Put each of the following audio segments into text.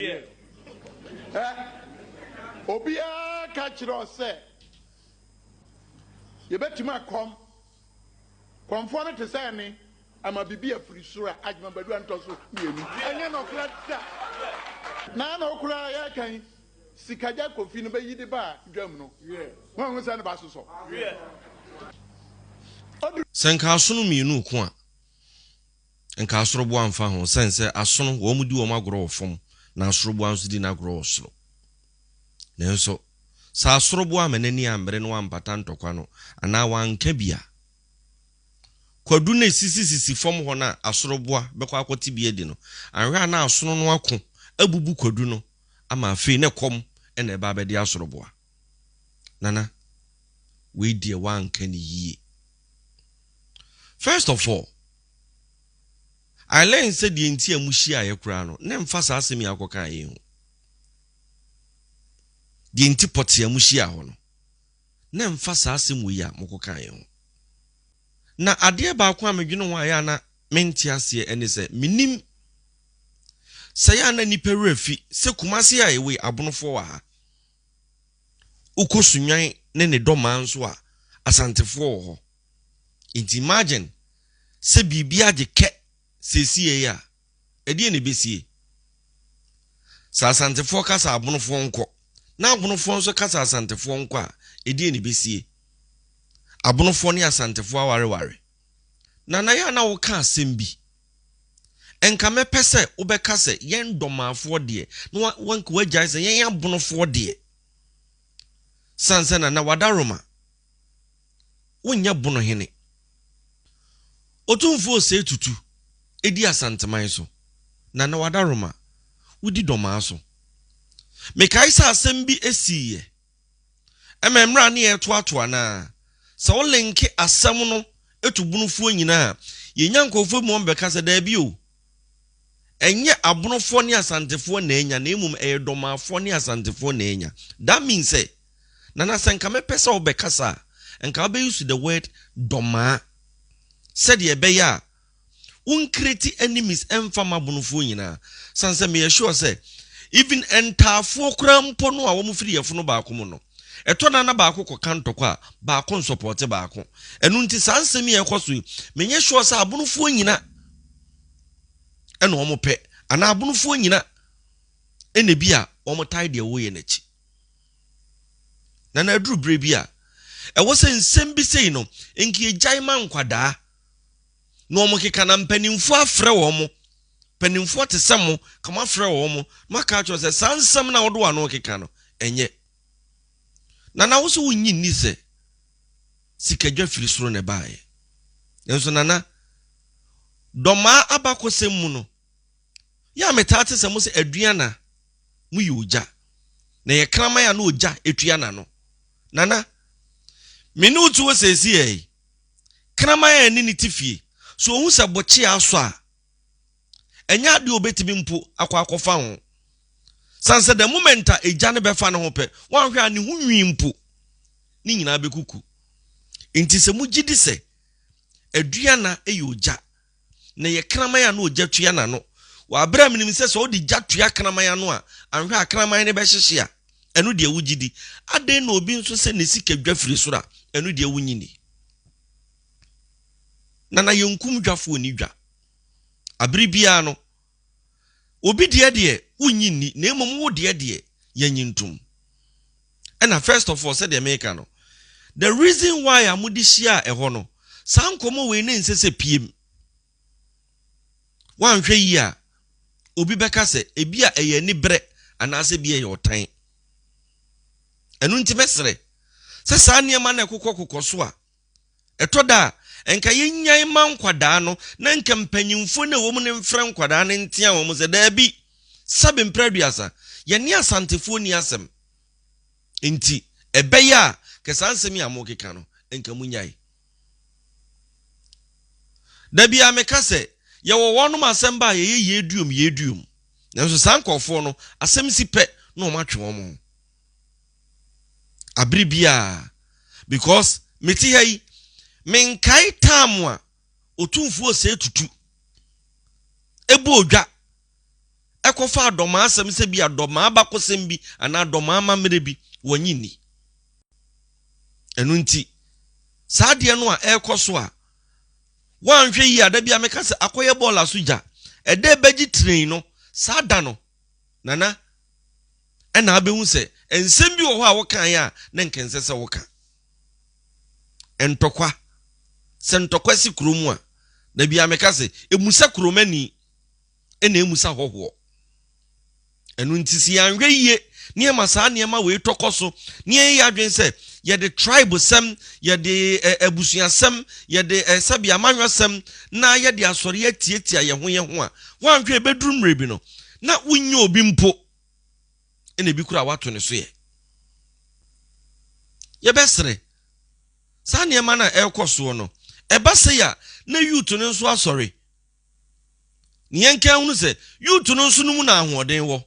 Ɛ? Obiara ka kyerɛ wo sɛ yɛbɛtumi akɔm. Kɔmfoɔ no te sɛ ɛne ama biribi afiri soro a Adjma Badu antɔ so mmienu. Ɛnyɛ nɔkora da. Na na okura yɛka yi sikagya kofi no bɛyi de ba dwam no. Moahu sɛ ne ba sosɔ. Ɔduru. Sɛ nka asono mmienu ko a. Nka asoroboa mfa ho sɛn sɛ asono wɔn di wɔn agorɔ wɔ fam na asoroboa nso di n'agorɔ wɔ soro. Nanso, sɛ asoroboa amma n'ani ammere na wampata ntɔkwa no anaa wanka bi a, kwadu no a esisisisi fam hɔ no a asoroboa bɛkɔ akɔte bi adi no, anhwɛ a na asono no ako abubu kwadu no ama afei na ɛkɔm na ɛba abɛde asoroboa. Nana, wei deɛ woanka no yie. First of all, I learn sɛ deɛ nti a mohyiaeɛ koraa no, na ɛmfa saa asɛm yi a wokɔkaa yei ho. Deɛ nti pɔtee a mohyiaa hɔ no, na ɛmfa saa asɛm wei a mokɔkaa yei ho. Na adeɛ baako a medwene ho a ɛyɛ a na mente aseɛ ɛne sɛ, mennim sɛ ɛyɛ a na nnipa werɛ afi sɛ Kumasi a ɛwei, Abonofoɔ wɔ ha. Wokɔ Sunnwan ne ne dɔmaa nso a, Asantefoɔ wɔ hɔ. Nti imagine sɛ biribi agye kɛ seesiei a, ɛdeɛn na ɛbɛsie? Sɛ Asantefoɔ ka sɛ Abonofoɔ nkɔ, na Abonofoɔ nso ka sɛ Asantefoɔ nkɔ a, ɛdeɛn na ɛbɛsie? Abonofoɔ ne Asantefoɔ awareware. Nana yɛ a na woka asɛm bi Nka mɛpɛ sɛ wobɛka sɛ yɛn dɔmaafoɔ deɛ na wanka wagyae sɛ yɛn abonofoɔ deɛ. Sane sɛ na na wada Roma. Wonyɛ bono hene. Otumfoɔ ɔsɛe tutu di Asanteman so. Na na wada Roma. Wodi dɔmaa so. Mekae sɛ asɛm bi siiɛ. Ɛma mmra ne yɛ toatoa anaa? Sɛ wo linke asɛm no to bonofoɔ nyina a, yɛ nya nkorɔfoɔ bi ma wɔn bɛka sɛ daabi o, ɛnyɛ abonofoɔ ne asantefoɔ na anya na mmom ɛyɛ dɔmaafoɔ ne asantefoɔ na anya. That means sɛ, Nana sɛ nka mɛpɛ sɛ wo bɛkasa a, nka wo bɛ use the word dɔmaa sɛdeɛ ɛbɛyɛ a Wo nkiriti enemies ɛnfa m'abonofoɔ nyinaa sane sɛ meyɛ sure sɛ even ɛntaafoɔ koraa mpo no a wɔn firi yɛfono baako mu no ɛtɔ da na baako kɔka ntɔkwa a baako nsɔpɔɔte baako ɛno nti saa nsɛm yi a ɛkɔ so yi menyɛ sure sɛ abonofoɔ nyina ɛna wɔn pɛ anaa abonofoɔ nyina ɛna ebi a wɔn tae deɛ wɔyɛ no akyi na na aduru berɛ bi a ɛwɔ sɛ nsɛm bi sei no nka yɛgyae ma nkwadaa na wɔn keka na mpanimfoɔ afrɛ wɔn mo mpanimfoɔ te sɛ mo ka mo afrɛ wɔn mo ma ka kyerɛ sɛ saa nsɛm na wɔde wɔn ano keka no ɛnyɛ nana wo sɛ wonyi nni sɛ sikadwa firi soro na ɛbaeɛ nanso nana dɔmaa abakɔsɛm mu no yɛ a metaa te sɛ mo sɛ aduana mo yɛ ogya na yɛ kraman a na ogya etua na no nana me ne wotu wɔ sɛsi yɛ kraman a ɛne ne te fie. So ohu sɛ bokyea asɔ a? Ɛnyɛ ade a obetumi mpo akɔ akɔfa ho. San sɛ the moment a egya no bɛfa ne ho pɛ, wanhwɛ a ne ho nwi mpo, ne nyinaa bɛkuku. Enti sɛ mugye di sɛ aduana yɛ ogya, na ɛyɛ kraman a na ogya tua n'ano. Wɔ bere a minim sɛ sɛ wode gya tua kraman ano a, anhwɛ a kraman no bɛhyehye a, ɛno deɛ wugye di. Adɛn na obi nso sɛ ne sika dwa firi soro a, ɛno deɛ wunnye nni? Nana, yɛnkum dwafo nni dwa. Bere biara no, Obi deɛ deɛ wonnye nni, na mmom wo deɛ deɛ yɛnnye ntom. Ɛna first of all, sɛdeɛ meka no, the reason why a mode hyiaa ɛhɔ no, saa nkɔmmɔ wei na ɛnsɛ sɛ piem. Woanhwɛ yie a, obi bɛka sɛ ebia ɛyɛ aniberɛ anaasɛ ebia ɛyɛ ɔtan. Ɛno nti mɛsrɛ sɛ saa nneɛma no a ɛkokɔkokɔ so a Ɛtɔ da a, nka yennyae mma nkwadaa no na nka mpanyimfo no a wɔwom no mfrɛ nkwadaa no nteaa wɔn sɛ, Dabi, Sabi mpere aduasa, yɛne Asantefoɔ nni asɛm. Enti, ɛbɛyɛ a, nka saa nsɛm yi a morekeka no, nka monnyae. Da biara meka sɛ, yɛwɔ wɔnom asɛm ba a yɛyɛ yei duom, yei duom. Nanso saa nkurɔfoɔ no, asɛm si pɛ na wɔatwe wɔn ho. abere biara because me te ha yi me nkae time a otumfuo osee tutu ebo odwa ɛkɔ fa adɔmaa asɛm sɛ bi adɔmaa bakosɛm bi anaa adɔmaa mamere bi wɔnyi ni ɛno nti saa deɛ no a ɛkɔ so a wɔanhwɛ yi a da bi a meka sɛ akɔyɛ bɔɔla so gya ɛdɛ bɛgye train no saa da no Nana, ɛnna abehu sɛ nsɛm bi wɔ hɔ a wokae a na anka ɛnsɛ sɛ woka. Ntɔkwa. Sɛ ntɔkwa si kurom a, da biara meka sɛ, mmusa kuromani, ɛnna ammisa hɔhoɔ. Ɛno nti sɛ yɛanhwɛ yie na yɛma saa nneɛma wei tɔ kɔ so na yɛyɛ adwene sɛ yɛde tribe sɛm, yɛde abusuasɛm, yɛde sɛbi amanyɔsɛm na yɛde asɔre atiatia yɛn ho yɛn ho a, Woanhwɛ ebeduru mmere bi no, na wunnya obi mpo, ɛna ebi koraa woato ne so ɛ. Yɛbɛsrɛ, saa nneɛma no a ɛrekɔ soɔ no, ɛba sei a, na youth no nso asɔre. Ne yɛnka nhunu sɛ, youth no nso no mu na ahoɔden wɔ.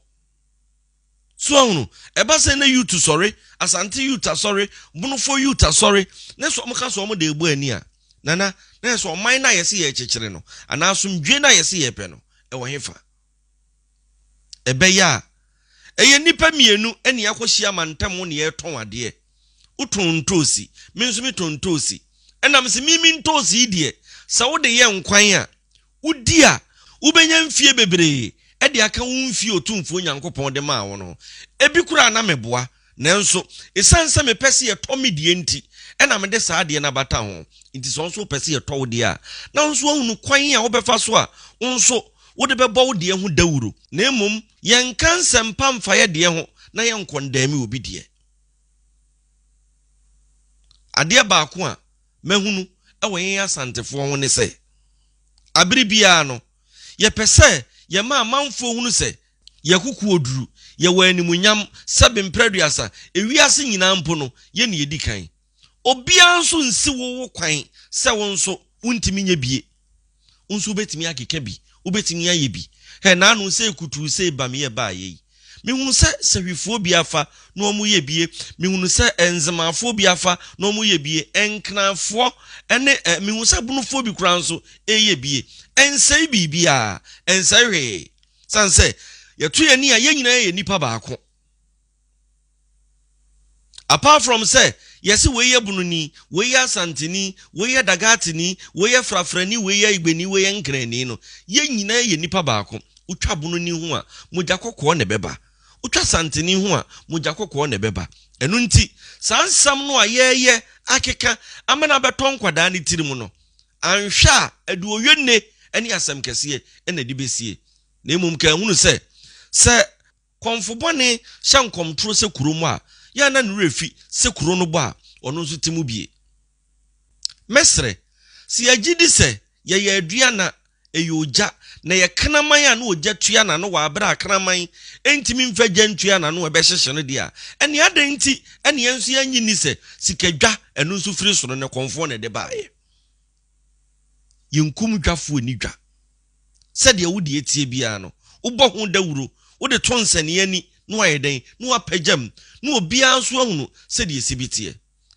So ahunu? Ɛba sɛ na Youth Sɔre, Asante Youth Asɔre, Bonofoɔ Youth Asɔre, na sɛ wɔka sɛ wɔde rebɔ ani a, Nana, na yɛ sɛ ɔman no a yɛse yɛrekyekyere no anaa asomdwoeɛ no a yɛse yɛrepɛ no, ɛwɔ hefa? Ɛbɛyɛ a, ɛyɛ nnipa mmienu na yɛakɔhyia mantam hɔ na yɛretɔn adeɛ. Wotɔn ntoosi, me nso metɔn ntoosi. Ɛnam se me me ntoosi yi deɛ, sɛ wode yɛ nkwan a, wodi a, wubenya mfe bebree de aka wo mfe a Otumfoɔ Nyankopɔn de maa wo no ho. Ebi koraa na meboa, nanso esiane sɛ mepɛ sɛ yɛtɔ me deɛ nti na mede saa adeɛ no abata ho. Enti sɛ wo nso wopɛ sɛ yɛtɔ wo deɛ a, na wo nso woahunu kwan a wobɛfa so a wo nso wode bɛbɔ wo deɛ ho dawuro. Na mmom yɛnka nsɛmpa mfa yɛn deɛ ho, na yɛnkɔndɛɛme obi deɛ. Adeɛ baako a mahunu wɔ yɛn Asantefoɔ ho ne sɛ, abere biara no, yɛpɛ sɛ yɛma amanfoɔ hunu sɛ yɛn akokoɔduru, yɛwɔ animuonyam, sɛbe mprɛduasa, ewiase nyinaa mpo no, yɛn na yɛdi kan. Obiara nso nsi wo wo kwan sɛ wo nso wontumi nyɛ bie. Wo nso wobɛtumi akeka bi, wobɛtumi ayɛ bi. Hɛ, naano sei kutuu sei bamyɛ baayɛ yi, mehunu sɛ sahwifoɔ bi afa na wɔyɛ bi ye, mehunu sɛ ɛ, nzemaafoɔ bi afa na wɔyɛ bi ye, ɛ, nkranfoɔ ne ɛ, mehunu sɛ bonofoɔ bi koraa nso reyɛ bi ye. Ɛnsɛe biribiara, ɛnsɛe hwee, sane sɛ yɛto yɛn ani a yɛn nyinaa yɛ nnipa baako. Apart from sɛ yɛse wei yɛ Bununi, wei yɛ Asanteni, wei yɛ Dagatini, wei yɛ Frafrani, wei yɛ Igbeni, wei yɛ Nkrani no, yɛn nyinaa yɛ nipa baako. Wotwa Bununi ho a, mogya kɔkɔɔ na ɛbɛba. Wotwa Asanteni ho a, mogya kɔkɔɔ na ɛbɛba. Ɛno nti, saa nsɛm no a yɛreyɛ akeka ama no abɛtɔ nkwadaa no tirim no, anhwɛ a ɛde oye nne ne asɛm kɛseɛ na ɛde bɛsie. Na mmom kɛnhunu sɛ, sɛ Kɔmfo bɔne hyɛ nkɔm toro sɛ kuro mu a, yɛ a na ne werɛ fi sɛ kuro no bɔ a, ɔno nso te mu bie. Mɛsrɛ sɛ yɛgye di sɛ yɛyɛ aduan na ɛyɛ ogya, na ɛyɛ kraman a na ogya tua n'ano wɔ abere a kraman ntumi mfa gya ntua n'ano a ɛbɛhyehye no deɛ a, ɛnneɛ adɛn nti na yɛn nso yɛnnye nni sɛ sikadwa, ɛno nso firi soro, na kɔmfoɔ na ɛde baeɛ? Yenkum dwafoɔ nni dwa. Sɛdeɛ wo deɛ teɛ biara no, wobɔ ho dawuro, wode to nsania ani na wayɛ dɛn? Na wapagyam, na obiara nso ahunu sɛdeɛ ɛsi bi teɛ.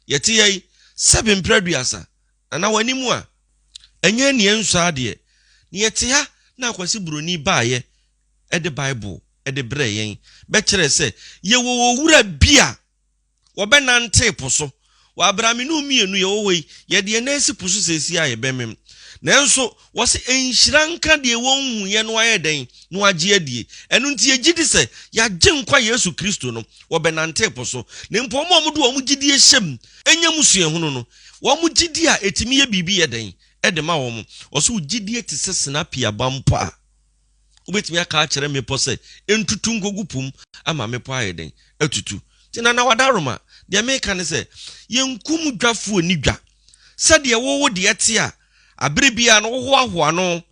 Yɛte ha yi, sɛbe mprɛ aduasa, na na w'anim a, ɛnyɛ nea ɛnsɔ ara deɛ. Na yɛte ha na Akwasi Buroni baeɛ de Bible de brɛɛ yɛn bɛkyerɛɛ sɛ yɛwɔ Owura bi a Wɔbɛnantee po so. Wɔ aberɛamenu mmienu yɛwɔ hɔ yi, yɛde yɛn nan si po so seesei a yɛbɛmem. Nanso, wɔse nhyira nka deɛ wɔnhuiɛ no ayɛ dɛn? No agye adie. Ɛno nti yɛgye di sɛ yɛn Agyenkwa Yesu Kristo no, wɔbɛnante po so. Na mpo wɔn a wɔde wɔn gyedie hyɛm nya mu suahunu no, wɔn gyedie a ɛtumi yɛ biribi yɛ dɛn de ma wɔn? Wɔse wo gyedie te sɛ sinapi aba mpo a. Wobɛtumi aka akyerɛ mmepɔ sɛ ɛntutu nkɔgu po mu ama mmepɔ ayɛ dɛn? Atutu. Nti Nana Wadaroma, deɛ meka ne sɛ, yɛnkum dwafoɔ nni dwa. Sɛdeɛ wo wo deɛ te a, aberɛ biara no wohoahoa no,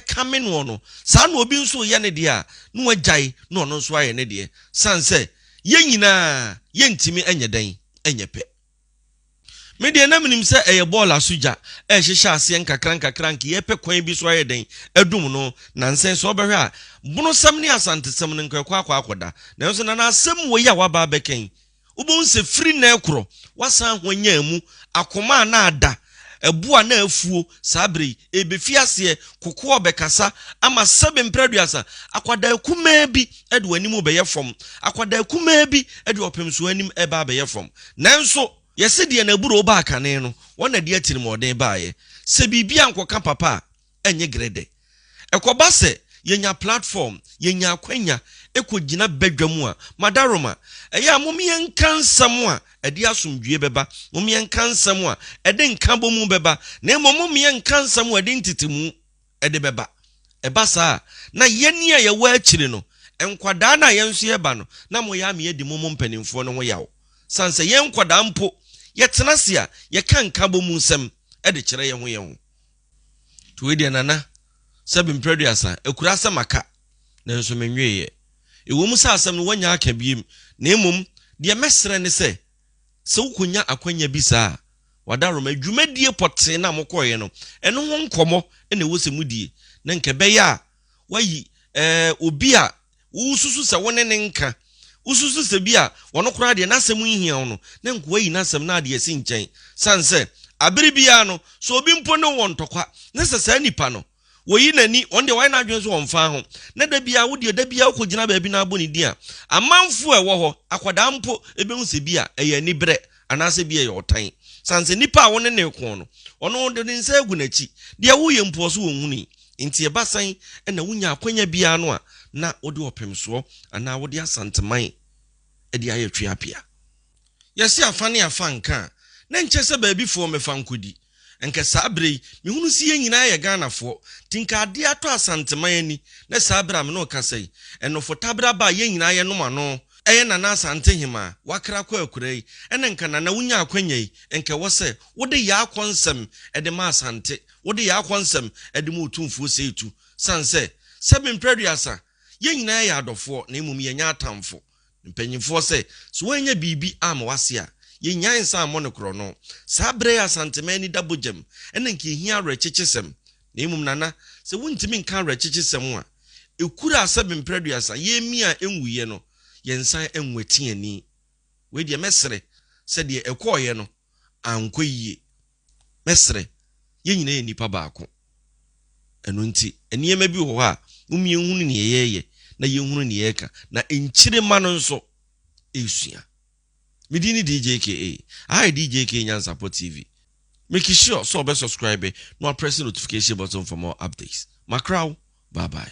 kame noɔ no, saa na obi nso reyɛ ne deɛ a, na wagyae na ɔno nso ayɛ ne deɛ. Sane sɛ, yɛn nyinaa, yɛntumi nyɛ dɛn nyɛ pɛ. Me deɛ na menim sɛ ɛyɛ bɔɔl aso gya ɛrehyehyɛ aseɛ nkakrankakra anka yɛrepɛ kwan bi so ayɛ dɛn adum no nansɛn sɛ wobɛhwɛ a bonosɛm ne asantesɛm no nka ɛkɔ akɔ akɔda nanso nana asɛm wei a woaba abɛka yi wobɛhu sɛ firi nnɛ korɔ woasan ahwanyan mu akoma a na ada Ɛbo a na afuo saa berɛ yi, ɛrebɛfiri aseɛ, kokoa a ɔbɛkasa ama sɛbe mprɛ aduasa, akwadaa kumaa bi de w'anim rebɛyɛ fam, akwadaa kumaa bi de ɔpemsoɔ anim reba abɛyɛ fam. Nanso, yɛse deɛ n'aburoo baa kane no, wɔn na ɛde atirimuɔden baeɛ. Sɛ biribi ankɔka papa a, ɛnyɛ grɛdɛ. Ɛkɔba sɛ yɛnya platform, yɛnya akwanya kɔgyina badwam a, Madaroma, ɛyɛ a mom yɛnka nsɛm a ɛde asomdwoeɛ bɛba, mom yɛnka nsɛm a ɛde nkabɔmu bɛba, na mmom mom yɛnka nsɛm a ɛde ntetemu de bɛba. Ɛba saa a, na yɛn a yɛwɔ akyire no, nkwadaa no a yɛn nso yɛba no, na moyɛ ama yɛadi mom mpanimfoɔ no ho yaw. Sane sɛ yɛn nkwadaa mpo, yɛtena ase a, yɛka nkabɔmu nsɛm de kyerɛ yɛn ho yɛn ho. Nti wei deɛ Nana, sɛbe mprɛ aduasa, ɛkura asɛm aka, nanso menweeɛ. Ɛwɔ mu sɛ asɛm no wɔanya aka biem, na mmom deɛ mɛsrɛ ne sɛ, sɛ wokɔnya akwanya bi saa a, w'adaworoma, dwumadie pɔtee no a mokɔeɛ no, ɛno ho nkɔmmɔ na ɛwɔ sɛ modie, na nka ɛbɛyɛ a, woayi, ɛɛ, obi a Wususu sɛ wo ne no nka? Wususu sɛ bi a ɔno koraa deɛ n'asɛm nhia wo no, na nka wayi n'asɛm na ade asi nkyɛn? Sane sɛ, abere biara no, sɛ obi mpo ne wo wɔ ntɔkwa, na sɛ saa nipa no, oyi n'ani, ɔno deɛ wayɛ n'adwene sɛ ɔmfa ho, na da biara, wo deɛ da biara wokɔgyina baabi na abɔ ne din a, amanfoɔ a ɛwɔ hɔ, akwadaa mpo, bɛhu sɛ bi a ɛyɛ aniberɛ, anaasɛ bi a ɛyɛ ɔtan. Sane sɛ nipa a wo ne no reko no, ɔno wɔde ne nsa agu n'akyi, deɛ woreyɛ mpo, ɔse ɔnhunui. Enti ɛba sɛn na wonya akwanya biara no a na wode ɔpemsoɔ anaa wode Asanteman de ayɛ tweapea? Yɛse afa ne afa nka a, na nkyɛ sɛ baabifoɔ mmɛfa nkɔdi. Nka saa berɛ yi, mehunu se yɛn nyinaa yɛ Ghanafoɔ, nti nka adeɛ atɔ Asanteman ani na saa berɛ a me ne wo kasa yi, ɛnofo taberɛ aba a yɛn nyinaa yɛnom ano, ɛyɛ Nana Asantehemaa, wakra kɔ akura yi, ɛna nka Nana wonya akwanya yi, nka ɛwɔ sɛ wode Yaa kɔ nsɛm de ma Asante, Wode yɛn akɔnsɛm de ma otumfoɔ sei tu, sane sɛ, sɛ mempere aduasa, yɛn nyinaa yɛ adɔfoɔ, na mmom yɛnyɛ atamfo. Mpanimfoɔ sɛ, So woannya biribi amma w'ase a, yɛnnyae nsa ammɔ no korɔno? Saa berɛ yi Asanteman ani da bogyam, ɛnna anka ɛhia awerɛkyekyesɛm. Na mmom Nana, sɛ wontumi nka awerɛkyekyesɛm a ɛkura sɛ mempere aduasa, yɛremi a ɛnwuiɛ no, yɛnsan anwati ani. Wei deɛ mɛsere sɛ deɛ ɛkɔeɛ no ankɔ yie. Mɛsrɛ, yɛn nyinaa yɛ nnipa baako. Ɛno nti, nneɛma bi wɔ hɔ a, mom yɛnhunu nea yɛreyɛ na yɛnhunu nea yɛreka, na nkyirema no nso resua. Me din ne DJ KA. Aha yɛ DJ KA Nyansapɔ TV. Make sure sɛ ɔbɛ subscribe na waprɛse notification button for more updates. Makra wo. Bye bye.